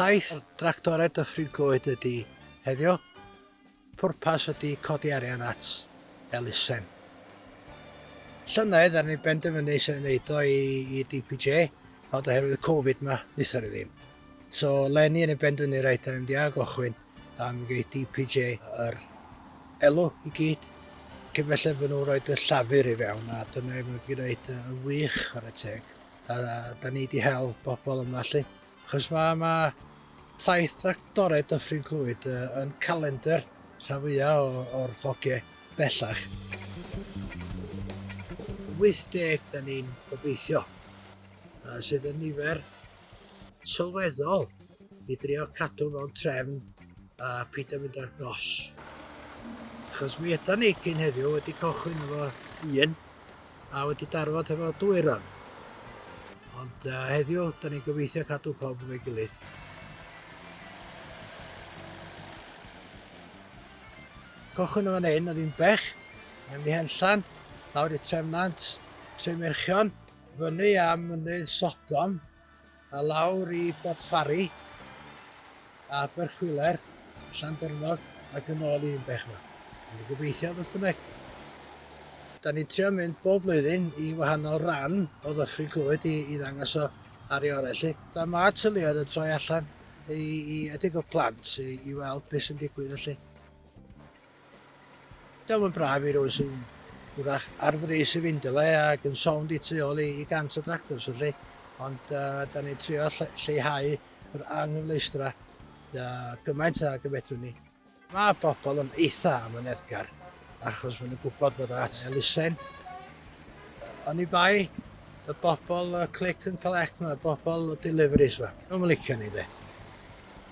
Taith Dractore Dyffryn Clwyd ydy heddiw, pwrpas ydy codi arian at elusen. Llynedd er ni benderfynu sy'n ei wneud o i, i DPJ, ond oherwydd y Covid ma, wnaethon ni ddim. So, leni yn ei benderfynu reit, da ni'n mynd i ail gochwyn, Pam geith DPJ yr elw i gyd? Cyn belled fy' nhw'n rhoid y llafur i fewn a dyna i fy' nhw 'di gwneud yn wych chwarae teg. A 'da ni 'di hel bobl yma 'lly. Achos ma' ma' taith tractore Dyffryn Clwyd yn calendr rhan fwya' o o'r hogie bellach. 80 'da ni'n gobeithio sydd yn nifer sylweddol i drio cadw mewn trefn a peidio mynd ar nos. Achos mi yda ni cyn heddiw wedi cychwyn efo un a wedi darfod efo dwy ran. Ond uh, heddiw, da ni'n gobeithio cadw pob yn ei gilydd. Cychwyn efo neun, oedd hi'n bech, yn mi henllan, lawr i Trefnant, Tremerchion, Fyny am Mynydd Sodom a lawr i Bodfari, a Aberchwiler, Llandyrnog ac yn ôl i Inbech yma. Dwi'n gobeithio beth bynnag. Da ni'n trio mynd bob blwyddyn i wahanol ran o Ddyffryn Clwyd i, i ddangos o ar ei orau lle. Da mae tyluoedd yn troi allan i, i edrych o plant i, i weld beth sy'n digwydd felly. Daw yn braf i rywun sy'n wrach ar frys i fynd i le ac yn sownd i tu ôl i 100 o dractors felly, ond da ni'n trio lleihau yr anghyfleustra gymaint ag y fedrwn ni. Mae pobl yn eitha' amyneddgar achos maen nhw'n gwybod bod at elusen. Oni bai y bobl click and collect 'ma, y bobl deliveries 'ma, nhw'm yn licio ni de,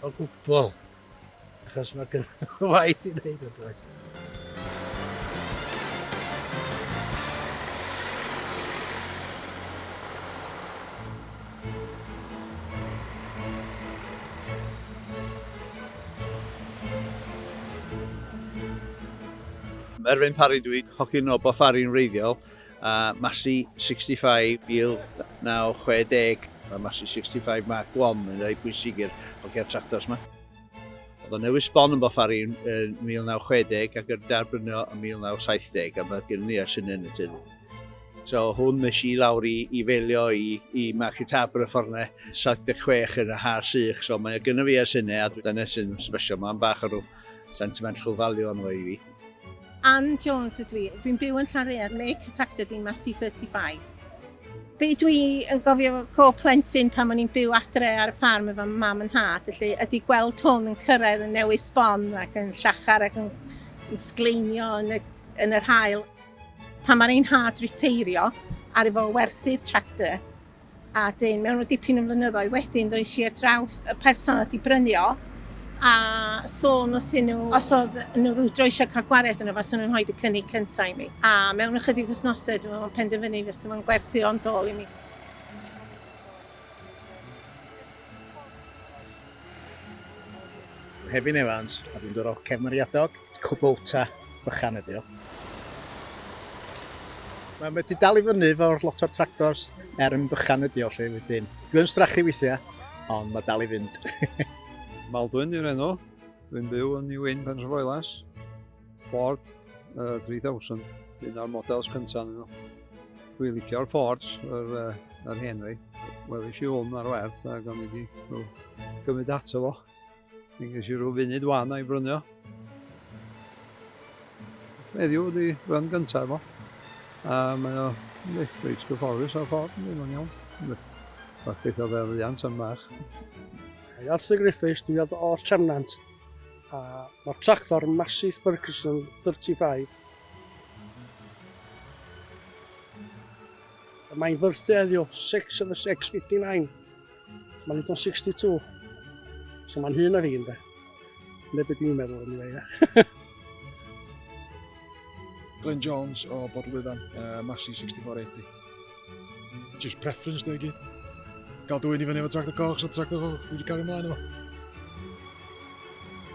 o gwbl. Achos mae gen waith i wneud yn does. Erwin Parry dwi, hogyn o Boffari'n wreiddiol. a Massey 65 1960. Mae Massey 65 Mark I yn rhai pwysig i'r hogiau'r tractors yma. Oedd o'n newid sbon yn Bofari yn 1960 ac yn derbynio yn 1970 a mae gen i sy'n yn y tyn. So hwn nes i lawr i, i felio i, i Market Harbour y fforne 76 yn y har sych, so mae gen i fi ers hynny a dyna sy'n sbesio, mae'n bach o rhyw Sentiment chwfalion oedd hi. Ann Jones ydw i. Dwi'n byw yn Llanrhaead, Lake Catactedy, Massey 35. Be dwi yn gofio efo co plentyn pan o'n i'n byw adre ar y ffarm efo mam yn nhad, felly ydy gweld hwn yn cyrraedd yn newis sbon ac yn llachar ac yn, yn sgleinio yn y, yn yr hael. Pan mae'r ein nhad riteirio, ar efo werthu'r tractor, A dyn, mewn o dipyn o flynyddoedd wedyn ddois i ar draws y person oedd wedi brynu o a sôn wrthyn nhw os oedd nhw rwydro eisiau cael gwariad yno faswn nhw'n rhoi y cynnig cyntaf i mi. A mewn ychydig wythnosau dwi meddwl penderfynu fysa fo'n gwerthu o'n dôl i mi. Hefin Evans a dwi'n dod o Cefn Mariadog. Kubota bychan ydi o. Mae wedi dal i fyny fo'r lot o'r tractors er yn bychan ydi o lle wedyn. Dwi yn strachu weithiau, ond mae dal i fynd. Maldwyn yw'r enw. Dwi'n byw yn New Inn, Penrhyfoelas. Ford uh, 3000, un o'r models cyntaf nhw. Dwi'n licio'r Fords, yr, uh, yr Henry. Welis i hwn ar werth ac o'n i wedi gymryd ato fo. Dwi'n gysi rhyw funud wan a'i brynio. Heddiw ydi rhan gyntaf efo. A mae o reit gyfforus o'r ffordd, yn o'n iawn. Bach beth o fel iant yn bach. Mae Arthur Griffiths, dwi ad o'r Tremnant, a mae'r tractor Massey Ferguson 35. Mae'n fyrthu heddiw, 6 of 6, 59. Mae'n hyd o'n 62. So mae'n hyn ar un fe. Neu beth dwi'n meddwl yn ei fe. Glenn Jones o Bodl Wyddan, uh, Massey 6480. Just preference dwi gyd. Gael dwy'n i fyny efo tractor coch, so tractor coch, dwi wedi cario ymlaen efo.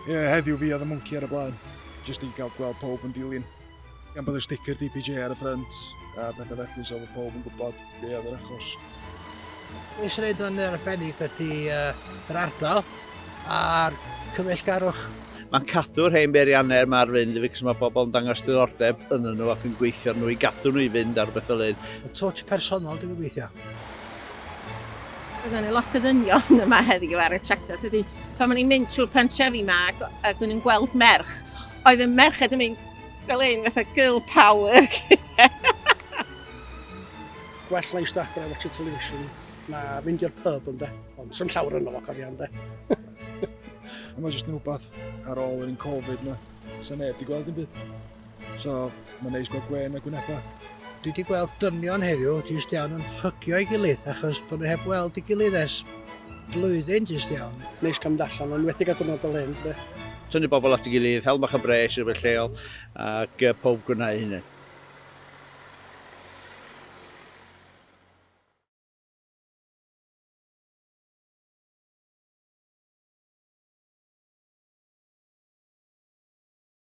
Ie, yeah, heddiw fi oedd y mwnci ar y blaen. Just i gael gweld pob yn dilyn. Gan bod y sticker DPJ ar y ffrynt a pethau felly, so fod pob yn gwybod be oedd yr achos. Mae eisiau gwneud o'n arbennig wedi yr ardal a'r cymysgarwch. Mae'n cadw'r hen beiriannau mae'r fynd i fi cos mae pobl yn dangos diddordeb yn nhw ac yn gweithio nhw i gadw nhw i fynd ar beth o lun. Y twtch personol dwi'n gweithio. Byddwn ni lot o ddynion yma heddiw ar y tractor, so pan o'n i'n mynd trwy'r pentrefi yma ac o'n i'n gweld merch Oedd y merched yn mynd fel hyn, fatha girl power. Gwell na eistedd adre a watch y television na mynd i'r pub ynde. Ond sy'n llawer yno fo cofio ynde. Mae jyst yn rhywbeth ar ôl yr un Covid yma. Sa'n neb di gweld yn byd. So, Mae'n neis bod gwên a gwyneba. Dwi wedi gweld dynion heddiw jyst iawn yn hygio ei gilydd achos bod nhw heb weld ei gilydd ers blwyddyn jyst iawn. Neis cael mynd allan, yn enwedig ar ddiwrnod fel hyn, de. Tynnu bobl at ei gilydd, hel bach o bres rhywbeth lleol ac pob gwna ei hunain.